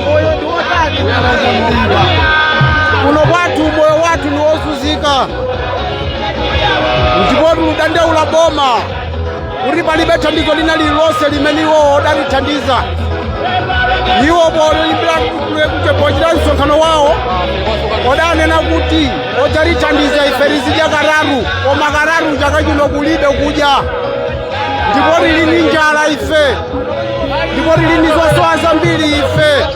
moyo ndi wotani kuno kwathu moyo wathu ndi wozunzika ndipo tikudandaula boma kuti palibe thandizo lina lililonse limene iwowo adalithandiza iwo polimbira kuchita msonkhano wawo odanena kuti odzalithandiza ife lizidya kararu koma kararu chaka chino kulibe kudya ndipo lili ndi njala ife ndipo tili ndi zosowa zambiri ife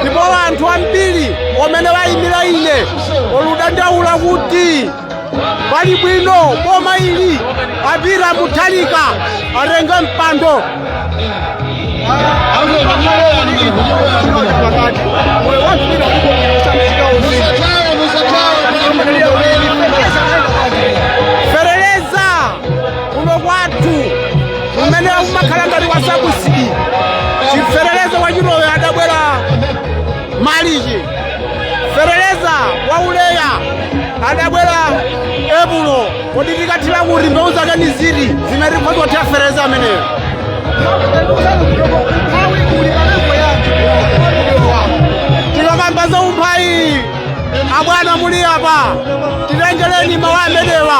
ndipo anthu ambiri omene wayimira ine oludandaula kuti pali bwino boma ili a Peter Mutharika atenge mpando kuno kwathu kumene kumakhala ngati kwa sabusidi chiferereza wa chilowe adabwera malichi ferereza wa uleya adabwera epulo kodi tikathira kuti mbewu zake ni ziti zimene tikhoza kuthira ferereza ameneyo tikakamba za umphayi abwana muli apa titengereni mawu amenewa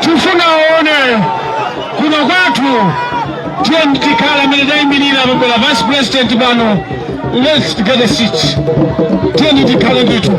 tifuna aone kuno kwathu tiyeni tikhala amene tayimirira pabwera vice president pano let's get a seat tiyeni tikhala ndithu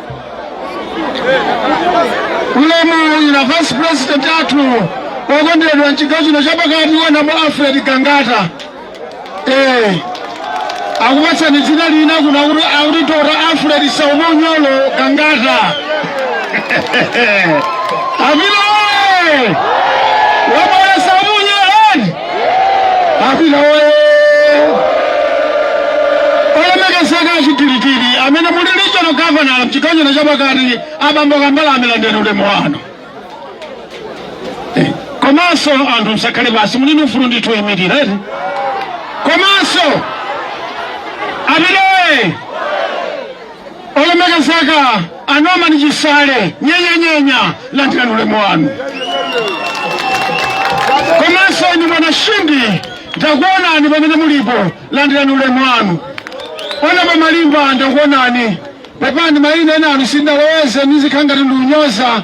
ulemu wanu a vice president athu okondedwa mchigawo chino chapakati honourable alfred gangata eh akupatsani dzina lina kuno akuti akuti dr alfred saumonyolo gangata amina A Peter oye! Olemekezeka achidilikidi amene muli regional governor mchigawo chino chapakati abambo Kambalame landirani ulemu wanu. Eh, Komanso anthu msakhale basi muli ndi ufulu ndithu imirira eti. Komanso a Peter oye! Olemekezeka a Norman Chisale nyenyenyenya landirani ulemu wanu. Komanso inu bwana Shindi ndakuonani pamene mulipo landirani ulemu wanu. Honourable Malimba ndakuonani pepani mayina ena anu sindaloweze ndizikhala ngati ndikunyoza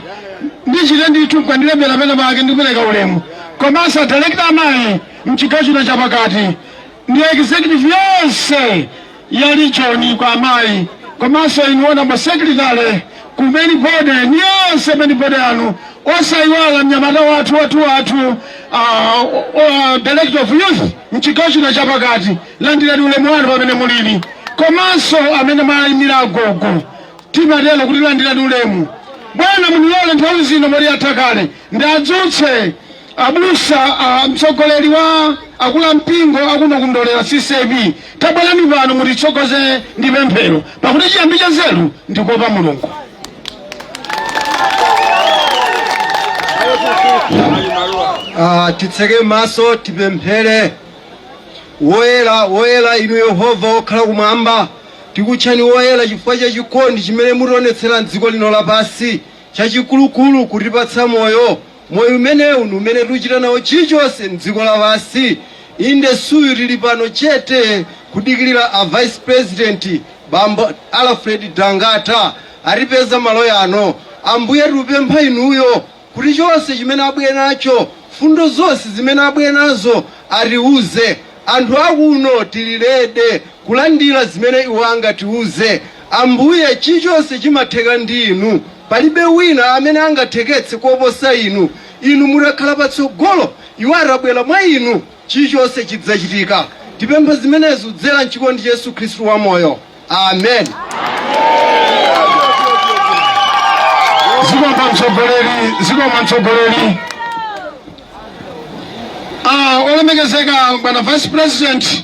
ndichite ndithu mukandilembera pena pake ndikupereka ulemu komanso adalekita amayi mchigawo chino chapakati ndi executive yonse ya region kwa amayi komanso inu ona masekretare ku main body ni onse a main body anu osayiwala mnyamata wathu wathu wathu ah, o- o- Director of youth mchigawo chino chapakati landirani ulemu wanu pamene muliri komanso amene mwayimira agogo timatero kuti landirani ulemu bwana munilole nthawi zino muli athakale Ndiadzutse abusa a mtsogoleri wa akula mpingo akuno ku Ndolera CCAP tabwerani pano mutitsogoze ndi pemphero pakuti chiyambi cha nzeru ndikuopa mulungu Ah, titseke m'maso tipemphere woyera woyera inu yehova wokhala kumwamba tikutchani woyera chifukwa cha chikondi chimene mutionetsera mdziko lino lapansi Chachikulukulu kutipatsa moyo. Moyo umenewu ndi umene tiuchita nawo chilichonse mdziko lapansi. Inde isuyo tili pano chete kudikilira a vice president bambo Alfred Gangata atipeza malo yano. Ambuye tiupempha inuyo kuti chonse chimene abwere nacho fundo zonse zimene abwere nazo atiuze. Anthu akuno tili ready kulandira zimene iwo angatiuze. Ambuye, chilichonse chimatheka ndi Inu. Palibe wina amene angatheketse koposa Inu. Inu mutakhala patsogolo, iwo atabwera mwa Inu, chilichonse chidzachitika. Tapempha zimenezi kudzera m'chikondi cha Yesu Khristu wamoyo. Amen. Zikomo mtsogoleri, zikomo mtsogoleri. Ah, olemekezeka bwana vice president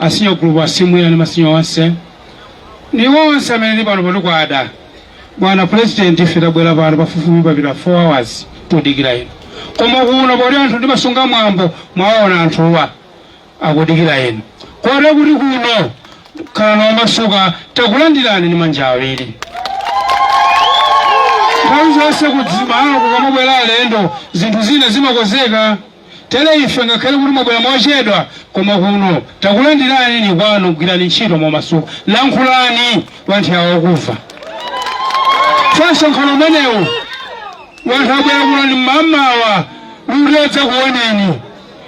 A senior group, asimwila ndi masenior onse ndi onse amene muli pano pano kwada. Bwana Pulezidenti, ife tabwera pano pafupifupi pakupita 4 hours tudikira inu, koma kuno poti anthu ndimasunga mwambo mwaona anthuwa akudikira inu kotero kuti kuno khalani omasuka takulandirani ndi manja awiri. Nthawi zonse kumalo kukamabwera alendo zinthu zina zimakonzeka. Tere ife ngakhale kuti mwabwera mochedwa, koma kuno takulandirani ni kwanu, gwirani ntchito momasuka, lankhulani wanthu wa akumva. Tsono msonkhano umenewu wanthu abwera kuno ni m'mamawa kuti adzakuoneni,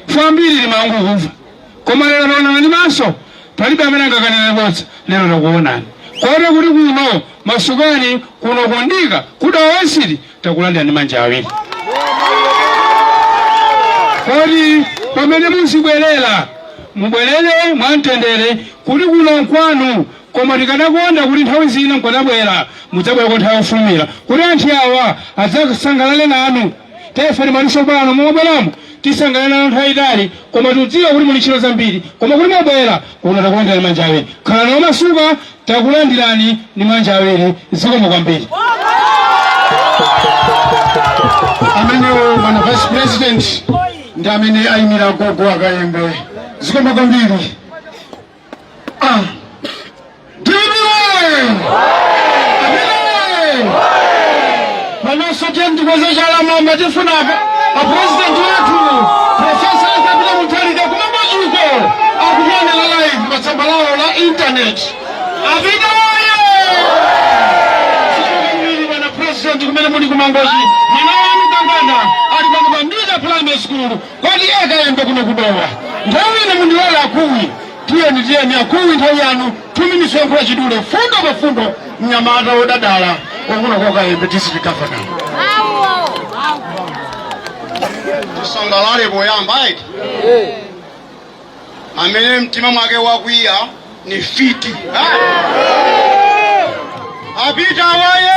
ife ambiri timangokumva koma lero taonana ni maso, palibe amene anganene bodza, lero takuonani kotero kuti kuno masukani kuno ku Nthondo kuda wasili takulandira ndi manja awiri kodi pomwe muzibwerera mubwerere mwamtendere kuti kuno nkwanu koma tikadakonda kuti nthawi zina mkadabwera mudzabwerako nthawi yofulumira kuti anthu awa adzasangalale nanu ife timalinso pano mobweramo tisangalale nanu nthawi yaitali koma tidziwa kuti muli ndi ntchito zambiri koma kuti mwabwera kuno takulandira ndi manja awiri khalani omasuka Takulandirani ndi manja awiri. Zikomo kwambiri. Amenewo bwana vice president ndi amene ayimira gogo a Kayembe. Zikomo kwambiri. Ah. Dibwe! Panoso tiyeni tikweze chala mwamba tifuna a president wathu Profesa Apita Mutharika kumangochiko akukuonera live pa tsamba lawo la internet. Apita woye! Zikomo kwambiri bwana president kumene muli kumangochi mwana wanu kangana ali pano pa Ndira primary school kwa Kayembe kuno kudowa nthawi ino mundilola akuwi Tiyeni tiyeni akulu, nthawi yanu 2 minutes yoyankhula chidule mfundo pa mfundo, mnyamata wonyadira wakuno kwa Kayembe district governor. tisangalale poyamba eti amene mtima mwake wakwiya ni mfiti ha? apita woye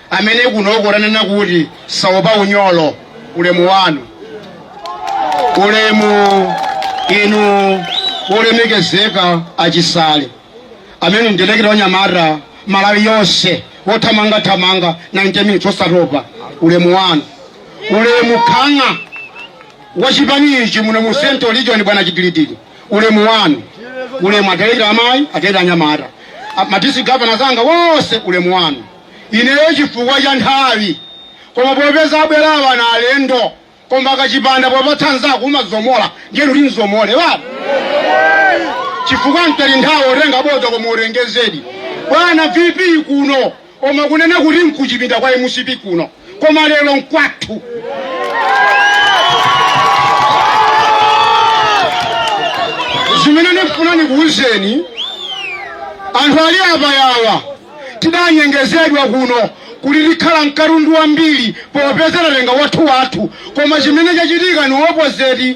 amene kunoko tanena kuti saopa unyolo ulemu wanu ulemu inu wolemekezeka achisale amene ndi dalekita wa anyamata malawi yonse wothamangathamanga 90 minutes osatopa ulemu wanu ulemu nkhanga wachipani ichi muno mu central region bwana chitilitili ulemu wanu ulemu adalekita amayi adalekita anyamata madisitiriki gavana anzanga onse ulemu wanu ineyo chifukwa cha nthawi koma popeza abwera awa na alendo koma kachipanda popatsa nzako umadzomola ndiye kuti ndidzomole baba chifukwa mtaye nthawi otenga bodza koma ulengezedi bwana vp kuno koma kunena kuti nkuchipinda kwa mcp kuno koma lero nkwathu chimene ndifuna ndikuwuzeni anthu ali apawa tidanyengezedwa kuno kuti tikhala mkatundu wambiri popeza tatenga wathu wathu koma chimene chachitika ni opposite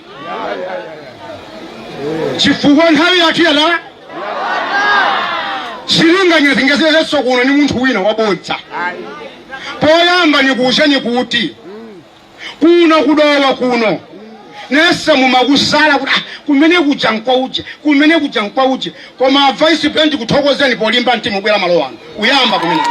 chifukwa nthawi yathu yatha sindilinganya zingezezenso kuno ni munthu wina wabodza poyamba nikuuzeni kuti kuno kudowa kuno nese mumakusala kuti "Ah, kumene kuja nkwauje kumene kuja nkwauje koma a vice president tikuthokozeni polimba mtima ubwera malo ano uyamba kumene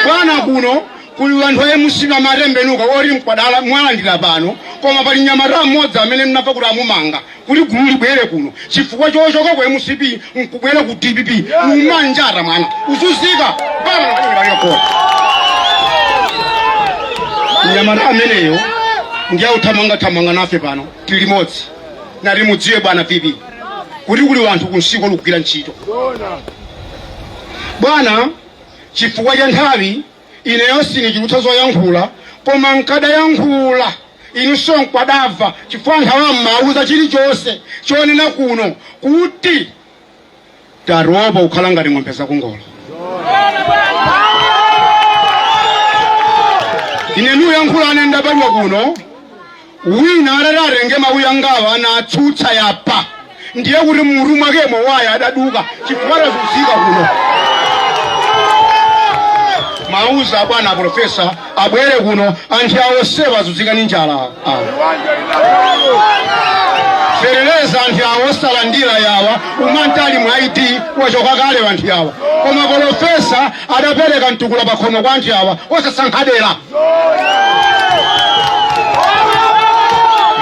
bwana kuno kuli wanthu a mcp atembenuka oti mkwadala mwalandira pano koma pali nyamata mmodzi amene mnamva kuti amumanga kuti gulu libwere kuno chifukwa chochoka ku mcp nkubwera ku dpp ummanjata mwana uzuzika mpaka nakuiwalani nyamata ameneyo ndiye uthamangathamanga nafe pano tili limodzi ndati mudziwe bwana VP kuti kuli wanthu kunsiko akugwira ntchito bwana chifukwa cha nthawi ineyo sinichulutsa zoyankhula koma nkadayankhula inunso mukadamva chifukwa nkhawa mmawauza chilichonse choona kuno kuti tatopa kukhala ngati ng'ombe zakungolo ine nikuyankhulane ndabadwa kuno wina atati atenge mawu angawa nkutsutsa apa ndiye kuti mmutu mwakemo waya adaduka chifukwa tazunzika kuno mawuza abwana aprofesa abwere kuno anthu awa onsewa azunzika ni njala ah. feteleza anthu awa osalandira yawa umanthali wa MCP wachoka kale anthu awa koma profesa adapereka mtukula pakhomo kwa anthu awa osasankha dera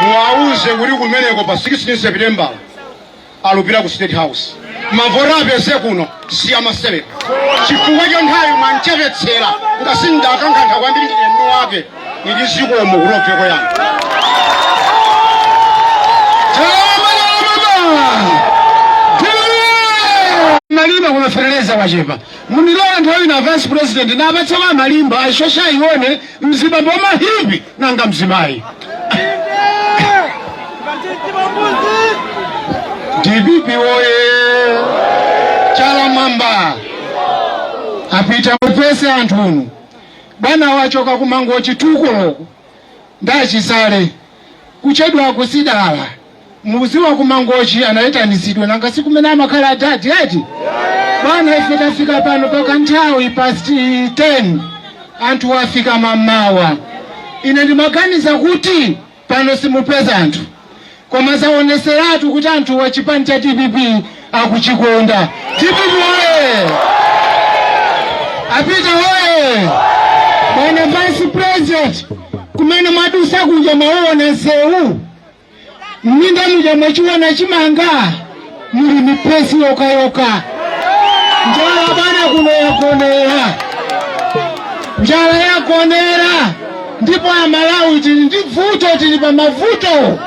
muwauze kuti kumeneko pa 16 september alupita ku state house mavoti apeze kuno si amasewera chifukwa cha nthawi mwanchepetsera ngati ndakankha kwambiri ndi eni wake ili zikomo kulobveko yanu malimba koma feteleza wachepa Munilole nthawi ino a vice president ndapatsa la malimba ashosha aone mzimayi wa mahipi nanga mzimayi dpp woye chala mwamba apita mupeze anthu uno bwana wachoka kumangochi chitukukocho ndachisale kuchedwa kusidala Mudziwa ku Mangochi anaitanitsidwa, nanga si kumene amakhala adadi eti? Bwana, ife tafika pano paka nthawi past 10 anthu wafika mamawa. Ine ndimaganiza kuti pano simupeza anthu, koma zaoneseratu kuti anthu wa chipani cha DPP akuchikonda. DPP oye! Apita oye! Bwana Vice President, kumene mwadusa kuja mwaona nsewu mminda muja mwachiona chimanga muli mipesi yokhayokha njala bwana kuno yagonera njala yagonera ndipo amalawi tili ndi vuto tili pa mavuto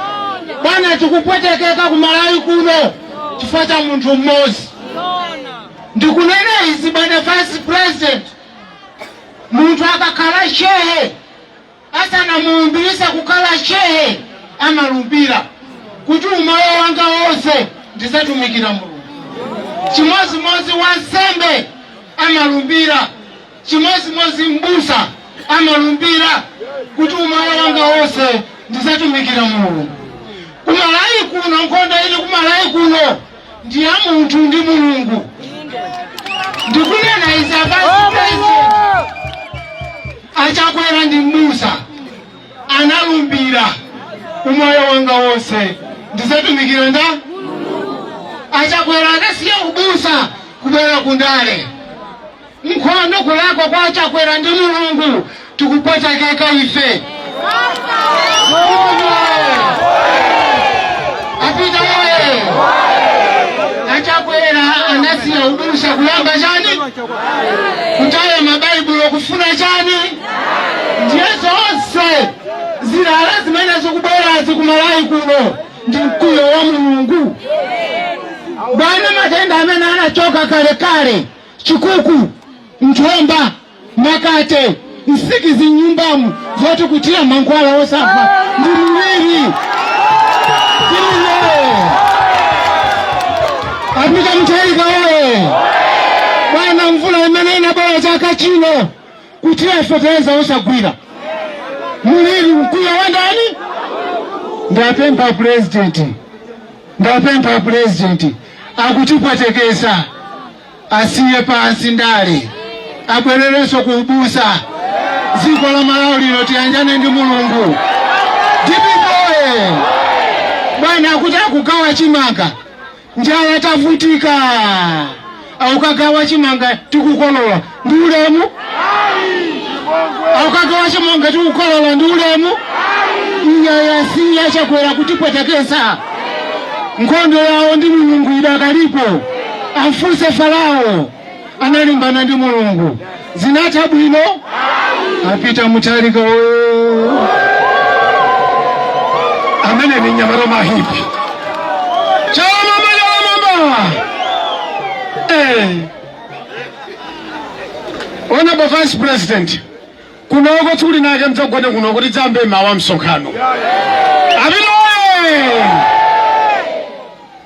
bwana tikupwetekeka ku malawi kuno chifukwa cha munthu mmodzi ndikunena izi bwana vice president munthu akakhala shehe Asanamulumbiritse kukhala Shehe, amalumbira kuti umoyo wanga wonse ndidzatumikira Mulungu. Chimodzimodzi wansembe amalumbira, chimodzimodzi m'busa amalumbira kuti umoyo wanga wonse ndidzatumikira Mulungu. Ku Malawi kuno, nkhondo ili ku Malawi kuno. ndi ya munthu ndi mulungu ndikunena izi a Vice President achakwera ndi mbusa analumbira umoyo wanga wonse ndizatumikira ndani achakwera anasiya ubusa kubwera kundale nkhondo kulakwa kwa achakwera ndi mulungu tikupwetekeka ife apita oye achakwera anasiya ubusa kuyamba chani kutaya mabaibulo kufuna chani ndiye zonse zilala zimene zikubwerazi ku malawi kuno ndi mkwiyo wa mulungu bwana matenda amene anachoka kalekale chikuku, njomba, makate, nsikizi m'nyumbamu zoti kuthira mankhwala osafa ndi mliri. apita mutharika oye bwana mvula imene inabwera chaka chino kuthira fetereza wosagwira mliri mkwiyo wa ndani ndapempha pulezidenti ndapempha pulezidenti akutipwetekesa asiye pansi ndale abwererenso ku ubusa dziko la malawi lino tiyanjane ndi mulungu dpp oye bwana akuti akugawa chimanga njala tavutika akukagawa chimanga tikukolola ndi ulemu akukagawa chimanga tikukolola ndi ulemu iyayi siya chakwera kutipwetekesa nkhondo yawo ndi mulungu idakalipo amfunse farao analimbana ndi mulungu zinatha bwino a Peter Mutharika oyo amene ndi mnyamata mahipi chalamamba chalamamba eh. honorable vice president kunoko tsiku linalake mudzagone kuno kuti mudzayambe mawa msonkhano amene oye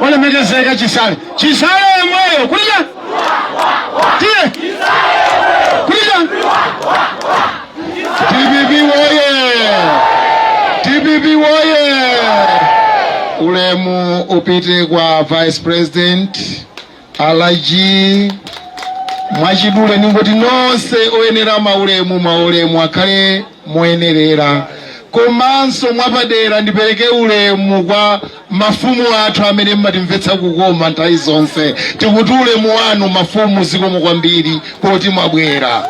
olemekezeka chisale chisale yemweyo kulija tiye kulija dpp woye dpp woye ulemu upite kwa vice president alaji mwachidule ndingoti nonse oyenera maulemu maulemu akhale moyenerera komanso mwapadera ndipereke ulemu kwa mafumu athu amene mmatimvetsa kukoma nthawi zonse tikuti ulemu wanu mafumu zikomo kwambiri poti mwabwera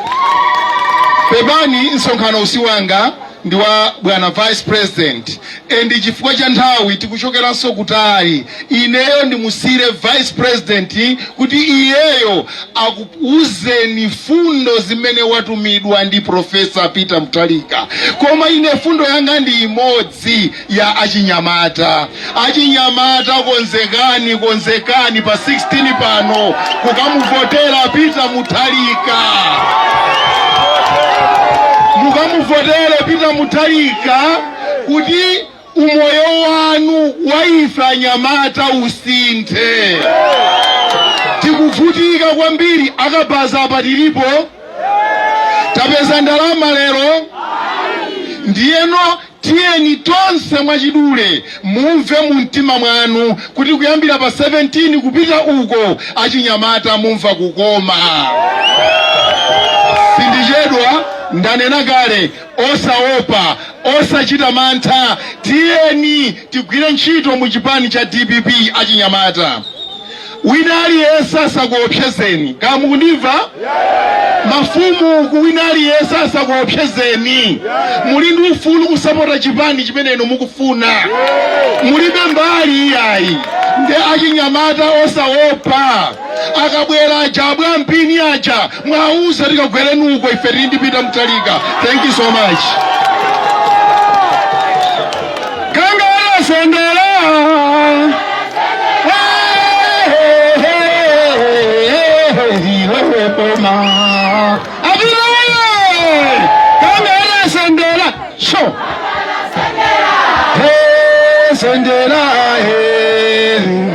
pepani msonkhano si wanga ndi wa bwana vice president and chifukwa cha nthawi tikuchokeranso kutali ineyo ndimusiyire vice president kuti iyeyo akuuzeni fundo zimene atumidwa ndi profesa peter mutharika koma ine fundo yanga ndi imodzi ya achinyamata. Achinyamata konzekani, konzekani pa 16 pano kukamuvotera Peter Mutharika. Mukamuvotere Peter Mutharika kuti umoyo wanu wa ife anyamata usinthe. Tikuvutika kwambiri akabaza apa tilipo tapeza ndalama lero ndiyeno Tiyeni tonse mwachidule mumve mu mtima mwanu kuti kuyambira pa 17 kupita uko achinyamata mumva kukoma. Sindichedwa, ndanena kale, osaopa, osachita mantha, tiyeni Tigwire ntchito mu chipani cha dpp achinyamata. Wina aliyense asakuopsezeni. Kaya mukundimva? Mafumu uku wina aliyense asakuopsezeni. Muli ndi ufulu kusapota chipani chimene inu mukufuna. Mulibe mbali iyayi. Nde achinyamata osaopa. akabwera aja abwampini aja muwauze akagwere uko ife tili ndi Peter Mutharika thank you so much Gangata sendera Sendera, hey,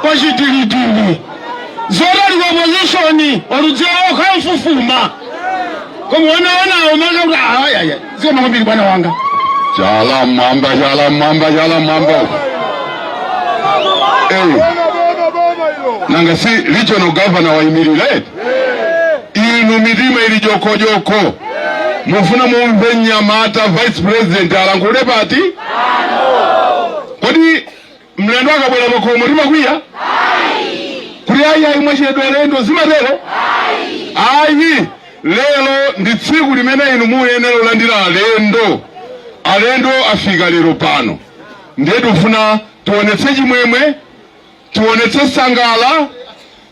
kwachitilitili zotali ku opposition oludzira okha mfufuma koma wanaonawo maza kuti ayaya zikoma kwambiri bwana wanga chala mwamba chala mwamba chala mwamba eyi nanga si regional governor wayimirira eti inu mitima ili jokojoko mufuna mumve mnyamata vice president alankhula pati kodi Mlendo akabwera pakhomo timakwiya? Kuti ayi ayi mwachedwa alendo zimatero? Ayi. Lero ndi tsiku limene inu muyenera kulandira alendo. Alendo afika lero pano. Ndiye tikufuna tionetse chimwemwe, tionetse nsangala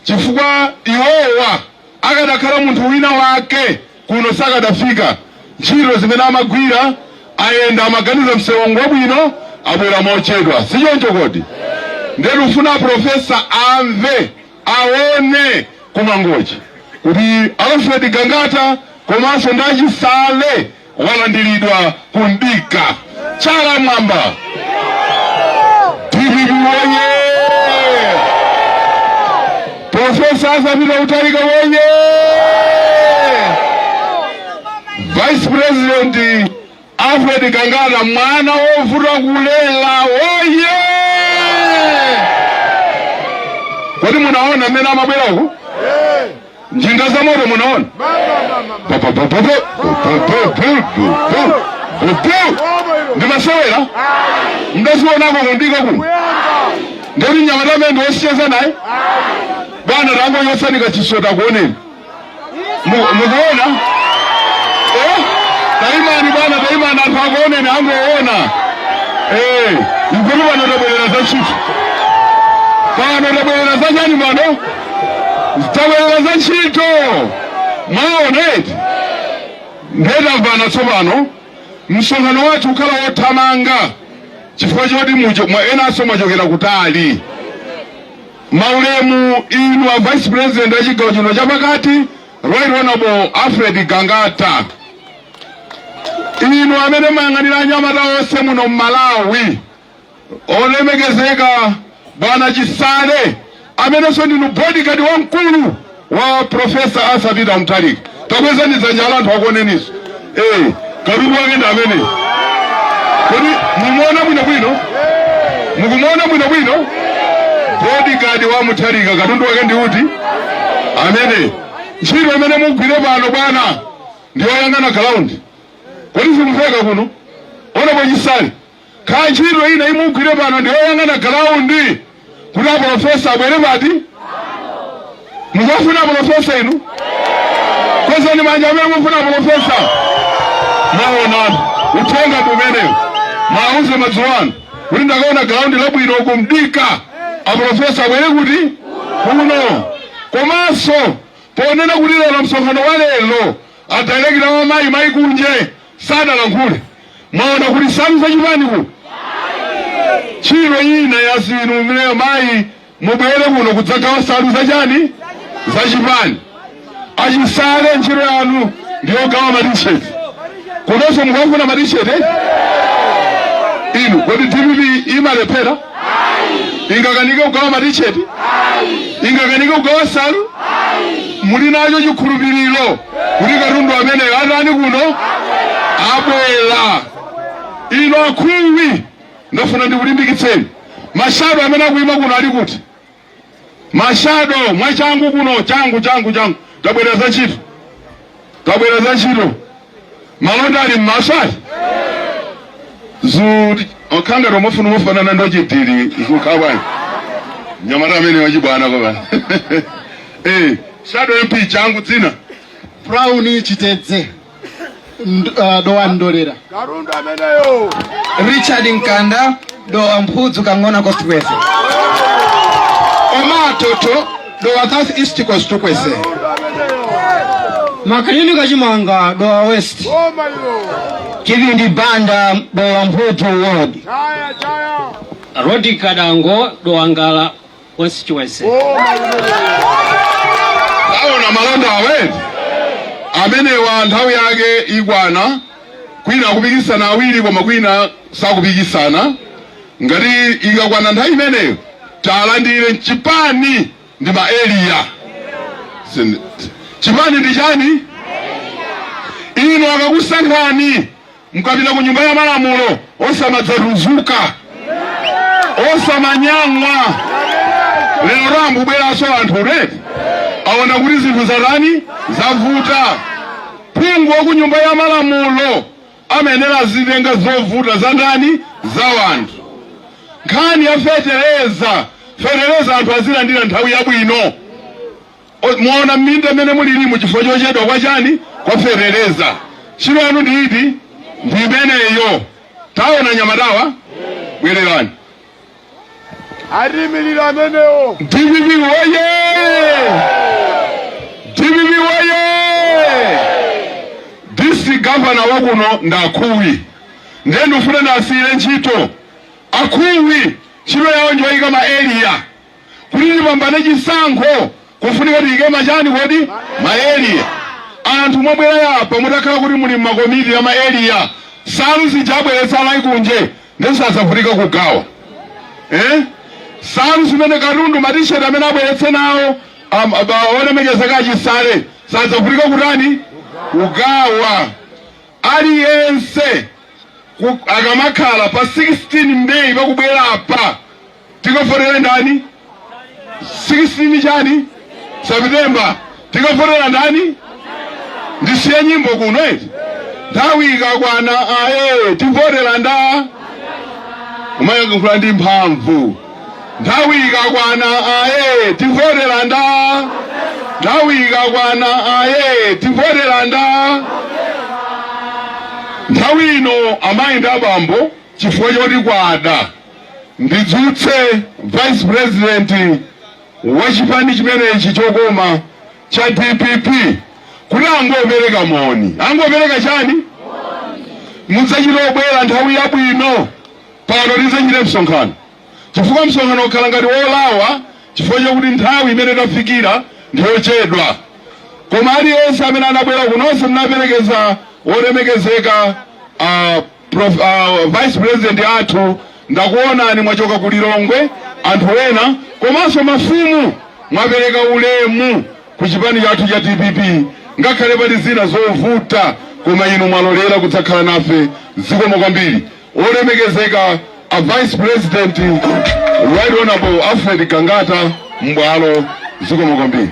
chifukwa iwowa Akadakhala munthu wina wake kuno sakadafika. Ntchito zimene amagwira, ayenda amaganiza mseuwu ngwabwino, abwera mochedwa. Sichoncho kodi? Ndiye tikufuna a Professor amve, aone ku Mangochi kuti Alfred Gangata komanso ndi a Chisale walandiridwa ku mdika chala mwamba dpp woye profesa Arthur Peter Mutharika woye vice president alfred gangata mwana wovuta kulera woye kodi munaona mmene amabwera uku njinga za moto munaona ndimasewera ndazionako kundika kuno ndeti mnyamata amene ndiwosiyeza naye bwana tangochotsaniko chisota akuoneni mukuona eh? taimani bwana taimani anthu akuoneni akuona eh, ikuti pano tabwerera za chifi pano tabwerera za chani pano tabwerera za ntchito mwaona eti nde tamvana tsopano msonkhano wathu ukhala wothamanga chifukwa choti mucho- mwa- enanso mwachokera kutali maulemu inu a vice president a chigawo chino chapakati right honorable alfred gangata inu amene mayang'anira anyamata onse muno mmalawi olemekezeka bwana Chisale amenenso ndinu bodyguard wamkulu wa Profesa Arthur Peter Mutharika. Takwezani dzanja anthu akuoneninso. Eh, katundu wake ndi amene. Kodi mukumuona bwino bwino? Mukumuona bwino bwino? Bodyguard wa Mutharika katundu wake ndi uti? Amene. Ntchito imene mugwire pano bwana ndi yoyang'ana ground. Kodi simuveka kuno? Ona kwa Chisale. kaya ntchito ina imugwire pano ndi oyang'ana galaundi kuti apolofesa abwere pati mukufuna apolofesa inu kwezani manja amene mukufuna apolofesa mwaona uthenga umenewu muwauze madzulo ano kuti ndakaona galaundi labwino akudikira apolofesa abwere kuti kuno komanso ponena kuti lero msonkhano wa lero adalekita a amayi mayi kunje sanalankhule mwaona kuti nsalu za chipani ku ntchito ina ya zinu imeneyo mayi mubwere kuno kudzagawa nsalu za chani za chipani achisale ntchito yanu ndiyogawa matisheti kunonso mukafuna matisheti inu kodi dpp ingalephere ingakanike kugawa matisheti ingakanike kugawa nsalu muli nacho chikhulupiriro kuti katundu ameneyo atani kuno abwera ino akhuwi ndafuna ndikulimbikitseni mashado amene akuyima kuno ali kuti mashado mwachangu kuno changu changu changu tabwera za ntchito tabwera za ntchito malonda ali mmaso ali zuri okhangati omufuna ofanana ndi Ochidiri zikukhawayi mnyamata amene wachibwana kwabana eh shado mp changu dzina brown chitedze Nd- ah, dowa ndolera Katundu ameneyo. richard mkanda dowa mphudzu kang'ona constituency oma atoto dowa south east constituency Katundu ameneyo. makanyini kachimanga dowa west Boma ilo. chivindi banda dowa mphudzu ward Chaya chaya. rodi kadango dowa ngala constituency. aona malonda awetu amenewa nthawi yake ikwana kwina akupikisana awiri koma kwina sakupikisana ngati ikakwana nthawi imeneyo talandire mchipani ndi ma eliya Sin- chipani ndi chani ino akakusankhani mukapita ku nyumba ya malamulo osamadzatukuka osamanyang'wa lero akubweranso anthu red aona kuti zinthu zatani zavuta phungu wa ku nyumba ya malamulo amayenera azitenga zovuta za ndani za wanthu nkhani ya feteleza feteleza anthu azilandira nthawi yabwino Mwaona minda imene mulilimu chifukwa chochedwa kwa chani kwa feteleza ntchito yanu ndi iti ndi imeneyo taona anyamatawa bwererani Atiimilira amenewo. dpp woye dpp woye district gavana wakuno ndi akhuwi ndiye ndifuna ndiwasiyire ntchito akhuwi ntchito yawo njoyika ma area kuti tipambane chisankho kofunika tiyike ma chani kodi maeliya anthu mwabwera apa mutakhala kuti muli mmakomiti ya maeliya nsalu zija abweretsa a Layi kunje ndisadzavutike kugawa eh? nsalu zimene katundu matisheti amene abweretse nawo am- aba- olemekezeka a Chisale sadzavutika kutani kugawa aliyense ku- akamakhala pa 16 meyi pakubwera apa tikavotere ndani 16 chani september tikavotera ndani ndisiye nyimbo kuno eti nthawi ikakwana aye tivotera nda umayankhula ndi mphamvu nthawi ikakwana aye tivotera nda nthawi ikakwana aye tivotera nda nthawi ino amayi ndi abambo chifukwa choti kwada ndidzutse vice president wa chipani chimenechi chokoma cha dpp kuti angopereka moni angopereka chani adzachita kubwera nthawi yabwino pano tidzachite msonkhano chifukwa msonkhano ukhala ngati wolawa chifukwa chakuti nthawi imene tafikira ndiyochedwa koma aliyense amene anabwera kuno nse munaperekeza wolemekezeka uh, Prof, uh, vice president athu ndakuonani mwachoka ku Lilongwe anthu ena komanso mafumu mwapereka ulemu ku chipani chathu cha dpp ngakhale pali zina zovuta koma inu mwalolera kudzakhala nafe zikomo kwambiri olemekezeka a vice president right honorable alfred gangata m'bwalo zikomo kwambiri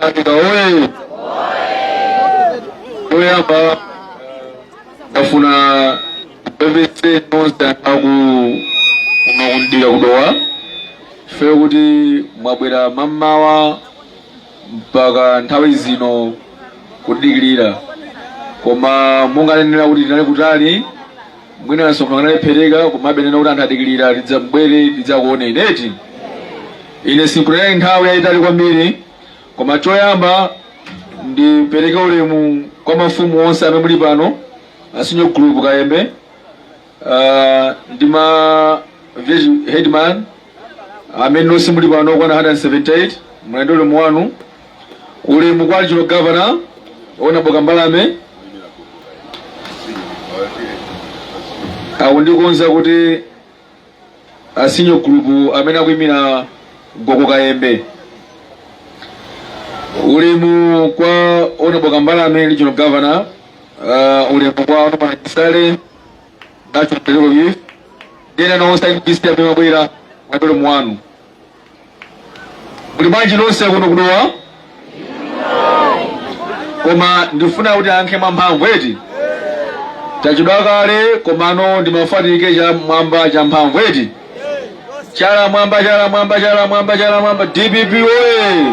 Tanganyika oye! Choyamba ndifuna ndipepese nonse akuno ku Dowa chifukwa choti mwabwera mamawa mpaka nthawi zino kutidikirira koma munangomvera kuti tinali kutali Mwina msonkhano walephereka komabe ndinanena kuti anthu adikirira ndidzabwere ndidzakuoneni eti ine sindinena nthawi yayitali kwambiri koma choyamba ndipereke ulemu kwa mafumu onse amene muli pano asinyo group kayembe uh, ndi ma village headman amene onse muli pano okwana 178 mulandire ulemu wanu Ulemu kwa a Regional Governor, Honorable Kambalame akundikonza kuti asinyo group amene akuyimira Gogo Kayembe. Ulemu kwa Honorable Kambalame Regional Governor, uh, ulemu kwa Honorable Chisale, National Political Youth, ndi ena nonse a executive amene mwabwera ulemu wanu. Muli bwanji nonse kuno ku Dowa? Koma ndifuna kuti muyankhe mwamphamvu eti? Tachedwa kale komano ndimafuna timve chala mwamba cha mphamvu eti? Chala mwamba chala mwamba chala mwamba chala mwamba DPP oye!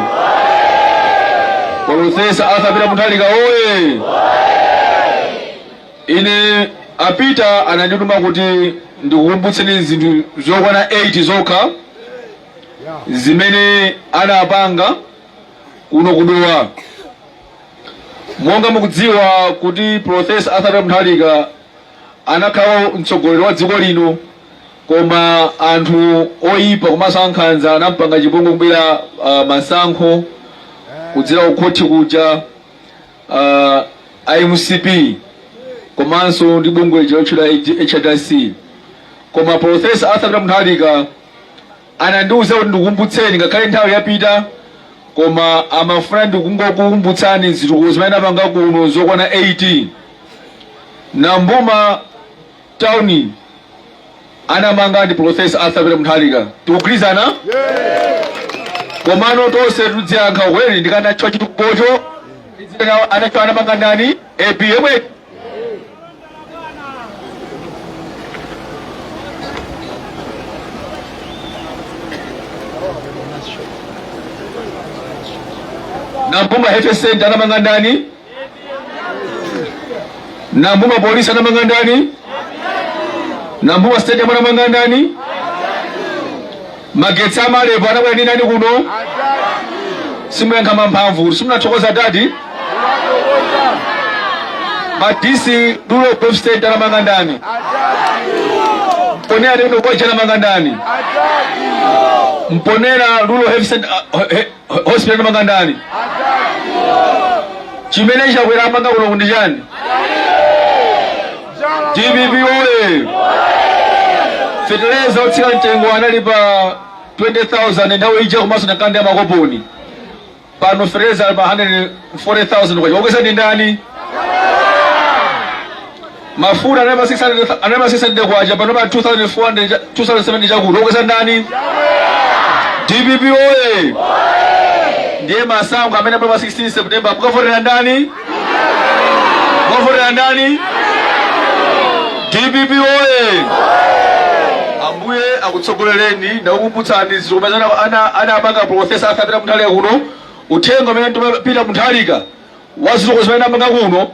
Profesa Arthur Peter Mutharika oye! Ine a Peter anandituma kuti ndikukumbutseni zinthu zokwana 8 zokha zimene anapanga kuno ku Dowa. Monga mukudziwa kuti Professor Arthur Peter Mutharika anakhala mtsogoleri wa dziko lino koma anthu oyipa komanso ankhanza anampanga chipongwe kubera uh, masankho kudzera ku khoti kuja uh, a mcp komanso ndi bungwe lija lotchedwa hrdc koma profesa arthur peter mutharika anandiuza kuti ndikukumbutseni ngakhale nthawi yapita koma amafuna ndingokukumbutsani zitukuko zimene anapanga kuno zokwana 8 ali m'boma Town anamanga ndi Professor Arthur Peter Mutharika. Tikugwirizana? Komano tonse tudziyankha kweni ndi kanacho chitukocho idzina anacho anamanga ndani? AP yemwe Nampumba Health Center anamanga ndani? nambuma polisi anamanga ndani nambuma stadium anamanga ndani magetsi amalepo anabwera ndi ndani kuno simuyankha mwamphamvu simunathokoza dadi madisi rural growth center anamanga ndani mponela lino kwacha anamanga ndani mponela rural health center, uh, he- hospital anamanga ndani chimene chakwera wamanga kuno ndi chani dpp oye feteleza otsika mtengo anali pa 20000 nthawi ija komanso ndi kanali ya makoponi pano feteleza ali pa 140000 kwacha wakweza ndi ndani Mafuta anali pa 600 anali pa 600 kwacha pano pa 2400 cha- 2007 chakuti okweza ndani? DPP oye! Ndiye masankho amenewa pa 16 September mukavotera ndani? Mukavotera ndani? DPP oye! Ambuye akutsogolereni ndakukumbutsani zomwe ana ana ana apanga profesa Arthur Peter Mutharika kuno uthenga umene ndi ma Peter Mutharika wazizokozi umene amanga kuno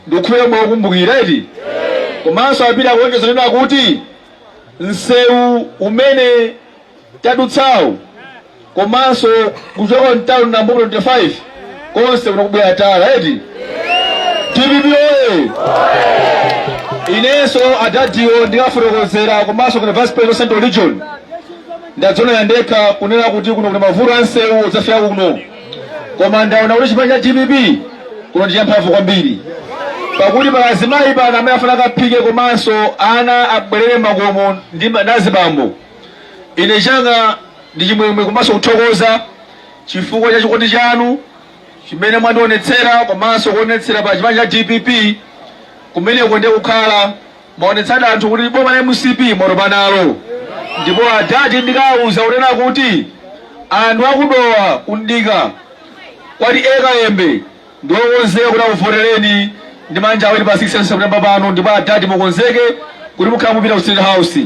Ndikukhulupirira mukukumbukira eti? Komanso a Peter kuonjeza kunena kuti msewu umene tadutsawu komanso kuchoka mtauni Nambuma 25 konse kuna kubwera tala eti? Dpp oye! Inenso adadiwo ndikafotokozera komanso kwa vice president central region ndadzonera ndekha kunena kuti kuno kuna mavuto a msewu udzafika kuno koma ndaona kuti chipani cha dpp kuno ndi champhamvu kwambiri pakuti pali azimayi pano amene afuna akaphike komanso ana abwerere makomo ndi ma- ndi azibambo ine changa ndi chimwemwe komanso kuthokoza chifukwa cha chikondi chanu chimene mwandionetsera komanso kuonetsera pa chipani cha dpp kumeneko ndiye kukhala mwaonetsa anthu kuti boma la mcp mwatopa nalo ndipo adadi ndikawauza kunena kuti anthu aku Dowa kuno ndi kwa TA Kayembe ndiwokonzeka kuti akuvotereni ndi manja awiri pa 16 september pano ndipo adadi mukonzeke kuti mukhala mupita ku state house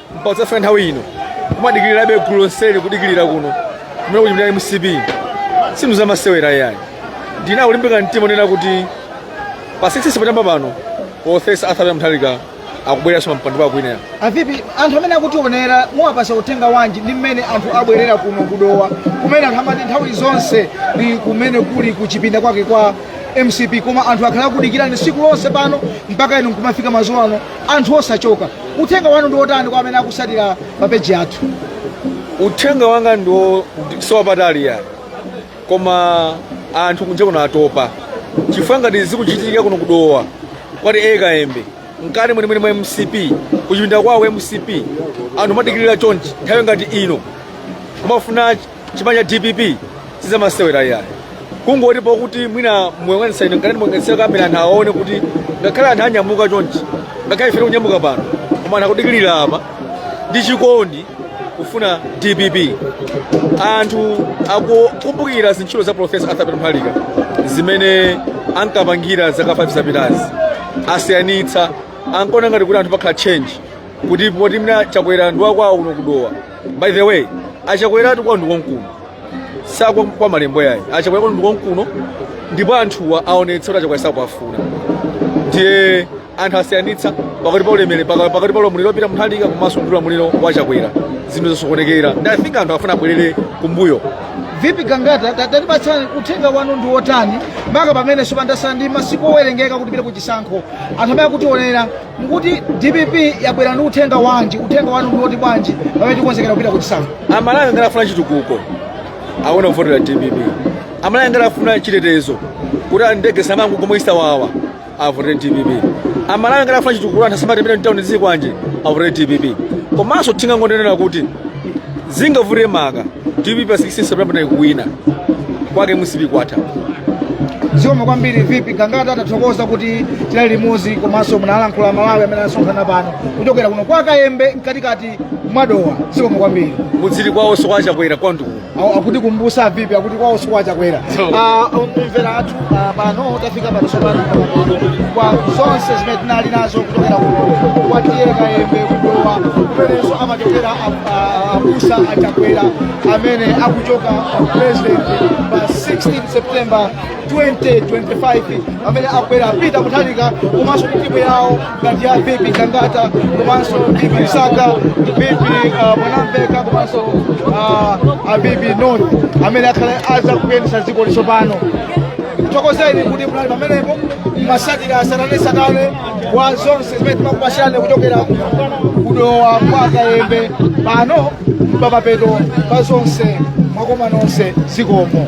mpaka kudzafika nthawi ino kumadikirirabe gulu lonseli kudikirira kuno kumene kuchipinda mcp sizinthu zamasewera yayi ndinako kulimbika mtima kunena kuti pa 16 september pano profesa arthur mutharika akubwereranso pampando pa kwina avipi anthu amene akutionera muwapasa uthenga wanji ndi mmene anthu abwerera kuno kudowa kumene anthu amati nthawi zonse ndi kumene kuli kuchipinda kwake kwa mcp koma anthu akhala akudikirani siku lonse pano mpaka inu nkumafika mazulo ano anthu osachoka uthenga wanu ndi wotani kwa amene akusatira pa peji yathu uthenga wanga ndiwo siwapatali yayi koma anthu kunja kuno atopa chifukwa ngati zikuchitika kuno kudowa kwa ta kayembe mkati mwenimweni mwa mcp kuchipinda kwake kwa mcp anthu madikirira chonchi nthawi ngati ino kumafuna chipani cha dpp sizamasewera iyayi kungoti pokuti mwina muyang'anisa ine ngati muyang'anisira kamera anthu aone kuti ngakhale anthu anyamuka chonchi ngakhale ife tikunyamuka pano koma anthu akudikirira apa ndi chikondi kufuna dpp anthu akukumbukira zintchito za profesa arthur peter mutharika zimene ankapangira zaka 5 zapitazi asiyanitsa ankaona ngati kuti anthu pakhala change kuti poti mwina chakwera ndi wakwawo kuno kudowa by the way achakweratu kwao ndi konkuno sikwao kwa malembo yayi achakwera kwao ndi konkuno ndipo anthuwa aonetsa kuti achakwera sakuwafuna ndiye anthu asiyanitsa pakati pa ulemere paka- pakati pa ulamuliro wa peter mutharika komanso ndi ulamuliro wa chakwera zinthu zasokonekera ndi i think anthu afuna abwerere kumbuyo vipi gangata ta- tatipatsani uthenga wanu ndi wotani maka pamene sopano tasala ndi masiku owerengeka kuti tipite ku chisankho anthu amene akutionera mukuti dpp yabwera ndi uthenga wanji uthenga wanu ndiwoti bwanji pamene tikonzekera kupita kuchisankho amalawi ngati afuna chitukuko awona kuvotera dpp amalawi ngati afuna chitetezo kuti ndege zisamangogwa mwachisawawa avotere dpp amalawi ngati afuna chitukuko anthu asamatemedwe mtauni zikwanje avotere dpp komanso tingangonenera kuti zingavute maka dpp pa 16 september pano ikuwina kwake mcp kwatha zikomo kwambiri vipi gangata tathokoza kuti tinali limodzi komanso munalankhula amalawi amene anasonkhana pano kuchokera kuno kwa kayembe mkatikati mwadowa zikomo kwambiri muziti kwawonso kwa chakwera kwanduku Awo akutikumbusa vipi akuti kwawonso kwa chakwera Ah, omvera athu ah, pano tafika pano sopano kwa zonse zimene tinali nazo kuchokera kuno kwa ta kayembe kudowa kumenenso amachokera a- a- abusa achakwera amene akuchoka president pa 16 september 2025 pamene akubwera a peter mutharika komanso kutimu yawo ngati ya bibi kangata komanso bibi msaka bibi uh, mwanamveka komanso uh, abibi noni amene akhale adzakuyendetsa dziko lino tsopano tithokozeni kuti munali pamenepo mumatsatira tsatanetsatane wa zonse zimene timakupasirani kuchokera kudowa kwa kayembe pano pamapeto pa zonse mwakoma nonse zikomo